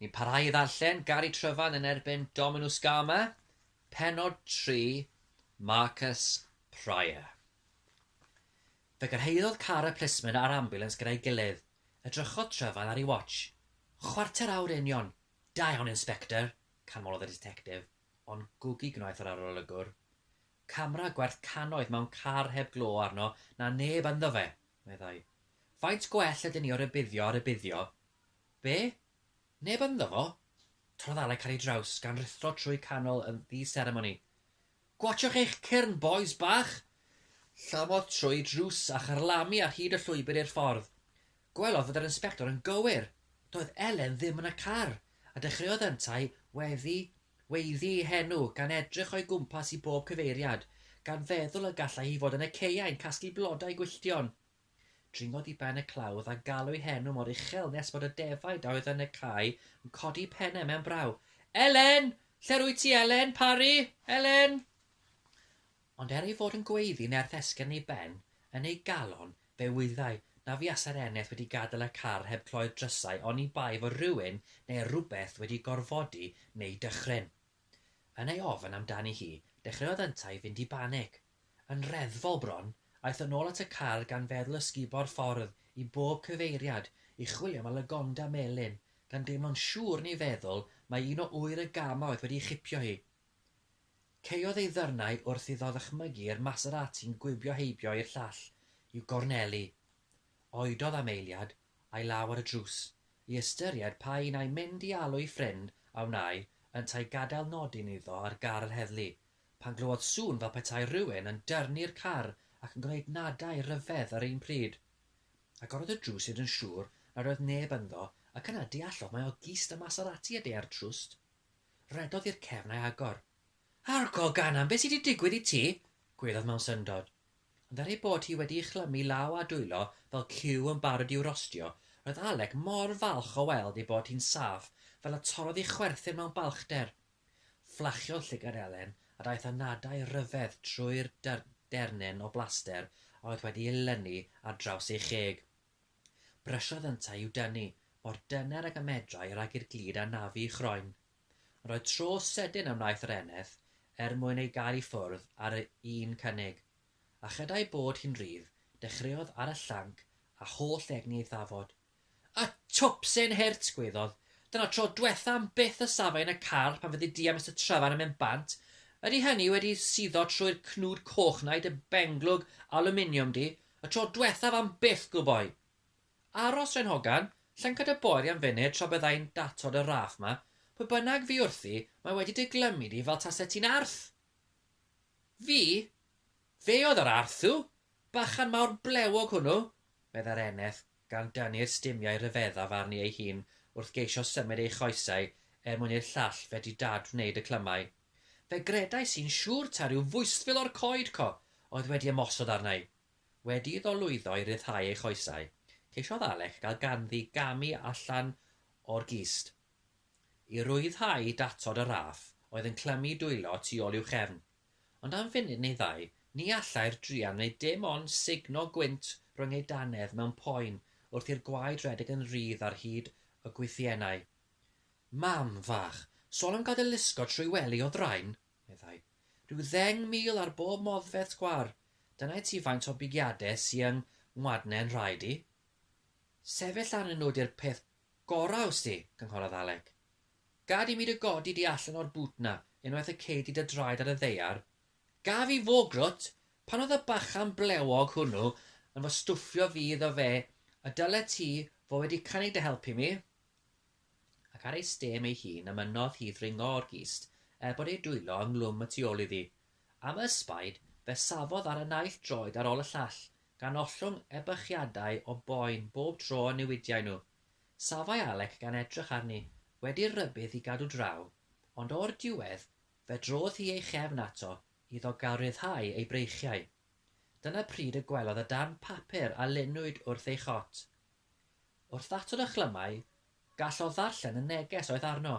Ni'n parhau i ddarllen Gary Tryfan yn erbyn Dominw Scama, penod 3, Marcus Prior. Fe gyrhaeddodd car y plismyn a'r ambiwlans gyda'i gilydd. Edrychodd Tryfan ar ei watsh. Chwarter awr union! Da iawn, Inspector! canmolodd y ditectif, ond gwgi gwnaeth yr arolygwr. Camera gwerth cannoedd mewn car heb glo arno na neb ynddo fe! Meddai, Faint gwell ydyn ni o rybuddio a rybuddio? Be? Neb ynddo fo? Torrodd Alec ar ei draws, gan ruthro trwy canol yn ddi-seremoni. Gwatsiwch eich cyrn, bois bach! Llamodd trwy drws a charlamu ar hyd y llwybr i'r ffordd. Gwelodd fod yr inspector yn gywir. Doedd Elen ddim yn y car, a dechreuodd yntau weddi Weiddi ei henw, gan edrych o'i gwmpas i bob cyfeiriad, gan feddwl y gallai hi fod yn y caeau'n casglu blodau gwylltion. Dringodd i ben y clawdd a galw ei henw mor uchel nes bod y defaid a oedd yn y cae yn codi pennau mewn braw. Elen! Lle'r wyt ti, Elen? Parri! Elen! Ond er ei fod yn gweiddi nerth esgyrn ei ben, yn ei galon, fe wyddai na fuasai'r eneth wedi gadael y car heb cloi'r drysau oni bai fod rhywun neu rywbeth wedi gorfodi neu dychryn. Yn ei ofn amdani hi, dechreuodd yntau fynd i banig. Yn reddfol bron, aeth yn ôl at y car gan feddwl ysgubo'r ffordd i bob cyfeiriad i chwilio am y lagonda melyn, gan deimlo'n siŵr ni feddwl mai un o ŵyr y gama oedd wedi ei chipio hi. Caeodd ei ddarnau wrth iddo ddychmygu i'r Maserati'n gwibio heibio i'r llall i'w gornelu. Oedodd am eiliad, a'i law ar y drws, i ystyried pa un ai mynd i alw'i ffrind a wnâi yntau gadael nodyn iddo ar gar yr heddlu, pan glywodd sŵn fel petai rhywun yn dyrnu'r car ac yn gwneud nadau ryfedd yr un pryd. Agorodd y drws hyd yn siŵr nad oedd neb ynddo ac yna deallodd mai oedd gist y Maserati a deuai'r trwst. Rhedodd i'r cefn a'i agor. Alcohol Ganan, be sy 'di digwydd i ti? gwelodd mewn syndod. Ond er ei bod hi wedi'i chlymu law a dwylo fel ciw yn barod i'w rostio, roedd Alec mor falch o weld ei bod hi'n saff fel y torrodd ei chwerthin mewn balchder. Fflachiodd llygad Elen a daeth anadau rhyfedd trwy'r dernyn o blaster a oedd wedi'i lynu ar draws ei cheg. Brysiodd yntau i'w dynnu mor dyner ag y medrai rhag i'r glud anafu i chroen. Ond roedd tro sydyn a wnaeth yr eneth er mwyn ei gael i ffwrdd ar y un cynnig. A chyda ei bod hi'n rhydd, dechreuodd ar y llanc a holl egni ei thafod. Y twp sy'n hurt! gwaeddodd. Dyna'r tro dwetha am byth y safai yn y carl pan fyddi di a Mister Tryfan yn mynd bant. Ydi hynny wedi suddo trwy'r cnwd coch na i dy benglwg alwminiwm di? Y tro dwethaf am byth, gŵl boi! Aros, Ren Hogan, llynca dy boer i am funud tra byddai'n datod y raff 'ma, pwy bynnag fu wrthi, mae wedi dy glymu di fel taset ti'n arth! Fi? Fe oedd yr arth, dduw! Bachan mawr blewog hwnnw! meddai'r eneth, gan dynnu'r stumiau rhyfeddaf arni ei hun wrth geisio symud ei choesau er mwyn i'r llall fedru dad-wneud y clymau. Fe gredais i'n siŵr ta ryw fwystfil o'r coed co oedd wedi ymosod arna i. Wedi iddo lwyddo i ryddhau ei choesau, ceisiodd Alec gael ganddi gamu allan o'r gist. I rwyddhau datod y raff oedd yn clymu dwylo tu ôl i'w chefn. Ond am funud neu ddau, ni allai'r druan wneud dim ond sugno gwynt rhwng ei dannedd mewn poen wrth i'r gwaed redeg yn rhydd ar hyd y gwythiennau. Mam fach, sôn am gadael lusgo trwy wely o ddrain! meddai. Rhyw ddeng mil ar bob modfedd sgwâr, dyna i ti faint o bigiade sy yng ngwadne'n nhraed i. Sefyll arnyn nhw 'di'r peth gorau ws ti, cynghorodd Alec. Gad i mi dy godi di allan o'r bŵt 'na unwaith y cei di dy draed ar y ddaear. Gaf i fo, grwt! Pan oedd y bachan blewog hwnnw yn fy stwffio fi iddo fe y dylet ti fo wedi cynnig dy help i mi. ac ar ei stêm ei hun a mynnodd hi ddringo o'r gist er bod ei dwylo yng nglwm y tu ôl iddi. Am y ysbaid, fe safodd ar y naill droed ar ôl y llall, gan ollwng ebychiadau o boen bob tro y newidiai nhw. Safai Alec gan edrych arni, wedi'r rhybudd i gadw draw, ond o'r diwedd, fe drodd hi ei chefn ato iddo gael rhyddhau ei breichiau. Dyna pryd y gwelodd y darn papur a lunwyd wrth ei chot. Wrth ddatod a chlymau, gall o ddarllen y neges oedd arno.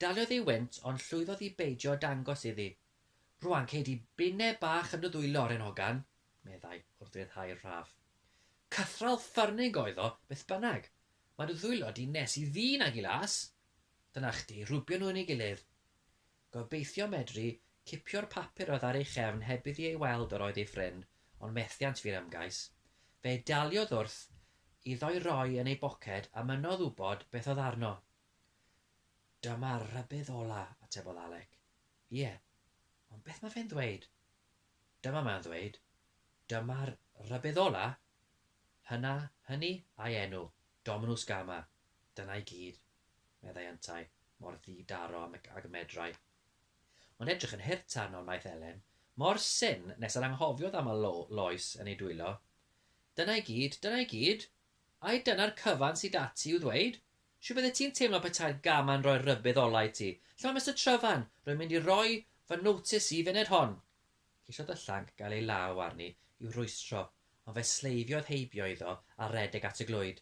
Daliodd ei wynt ond llwyddodd i beidio â dangos iddi. Rwan cei di binne bach yn dy ddwy loren hogan, meddai, wrth ryddhau'r rhaff. Cythral ffyrnig oedd o, beth bynnag. Mae dy ddwylo di nes i ddyn ag i las. Dyna chdi, rhwbio nhw yn ei gilydd. Gobeithio medru cipio'r papur oedd ar ei chefn heb iddi ei weld yr oedd ei ffrind, ond methiant fu'r ymgais. Fe daliodd wrth iddo'i roi yn ei boced a mynnodd wybod beth oedd arno. Dyma'r rhybudd ola, atebodd Alec. Ie, ond beth mae fe'n ddweud? Dyma mae'n ddweud, Dyma'r rhybudd ola! Hynna, hynny, a'i enw, Dominws Gama. Dyna i gyd. meddai yntau, mor ddi-daro ag y medrai. O'n edrych yn hurt arno, wnaeth Elen, mor syn nes yr anghofiodd am y lo loes yn ei dwylo. Dyna i gyd, dyna i gyd? Ai dyna'r cyfan sy 'da ti i'w ddweud? Shw fyddet ti'n teimlo petai'r gama'n rhoi'r rhybudd ola' i ti? Lle mae Mister Tryfan? Rwy'n mynd i roi fy notice i funud hon! Ceisiodd y llanc gael ei law arni i'w rwystro, ond fe sleifiodd heibio iddo a redeg at y glwyd.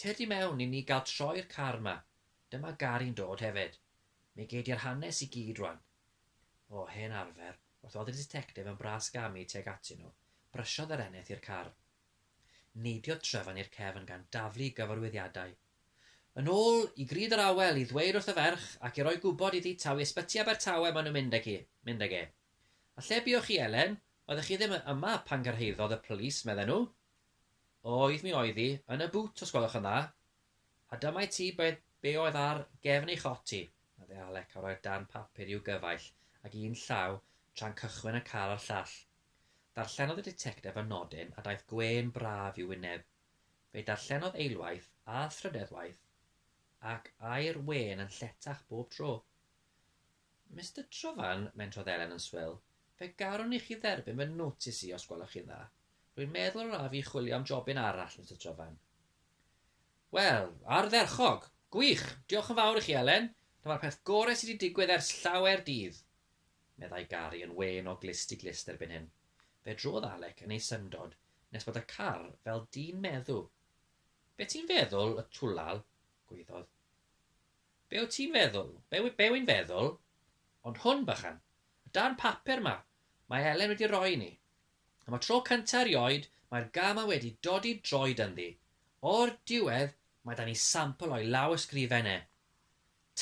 Cer di mewn i ni gael troi'r car ma. Dyma gar i'n dod hefyd. Mi gei di'r hanes i gyd rwan. O, hen arfer, wrth oedd y ditectif yn bras gamu tuag atyn nhw, brysiodd yr eneth i'r car. Neidiodd Tryfan i'r cefn gan daflu i gyfarwyddiadau. Yn ôl i Grud yr Awel i ddweud wrth y ferch ac i roi gwybod iddi taw i Ysbyty Abertawe maen nhw'n mynd ag hi, mynd ag e. A lle buoch chi, Elen? Oeddech chi ddim yma pan gyrhaeddodd y polis, medden nhw. Oedd mi oedd hi, yn y bŵt os gwelwch yn dda. A dyma i ti beth be oedd ar gefn ei chot hi, meddai Alec a rhoi'r darn papur i'w gyfaill ag un llaw tra'n cychwyn y car a'r llall. Darllenodd y ditectef y nodyn a daeth gwên braf i'w wyneb. Fe'i darllenodd eilwaith a thrydeddwaith ac ai'r wên yn lletach bob tro. Mister Trufan, mentrodd Elen yn swil, fe garwn i chi dderbyn fy notis i os gwelwch chi'n dda. Rwy'n meddwl yr af i chwilio am jobyn arall, Mister Trufan. Wel, ardderchog! Gwych! Diolch yn fawr i chi, Elen. Dyma'r peth gorau sydd wedi digwydd ers llawer dydd! meddai Gary yn wên o glust i glust erbyn hyn. Fe drodd Alec yn ei syndod nes bod y car fel dyn meddw. Be ti'n feddwl, y twlal? gwaeddodd. Be wyt ti'n feddwl? Be, be wy'n feddwl? Ond hwn, bychan. Y darn papur 'ma, mae Elen wedi roi i ni. Am y tro cynta' erioed, mae'r gama wedi dodi droed ynddi. O'r diwedd, mae 'da ni sampl o'i lawysgrifen e.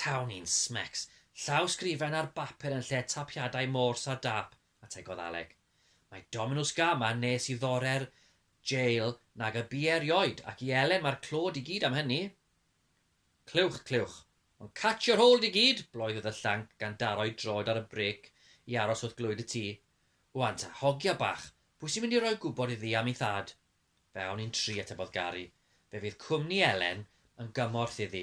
Taw ni'n smecs! Llawsgrifen ar bapur yn lle tapiadau mors a dâp, ategodd Alec. Mae Dominws Gama nes i ddore'r jail nag y bu erioed, ac i Elen mae'r clod i gyd am hynny. Clywch, clywch. Ond catch your hold i gyd! bloeodd y llanc gan daro'i droed ar y brêc i aros wrth glwyd y tŷ. Ŵan ta, hogia bach, pwy sy'n mynd i roi gwybod iddi am ei thad? Fe awn ni'n tri, atebodd Gary. Fe fydd cwmni Elen yn gymorth iddi.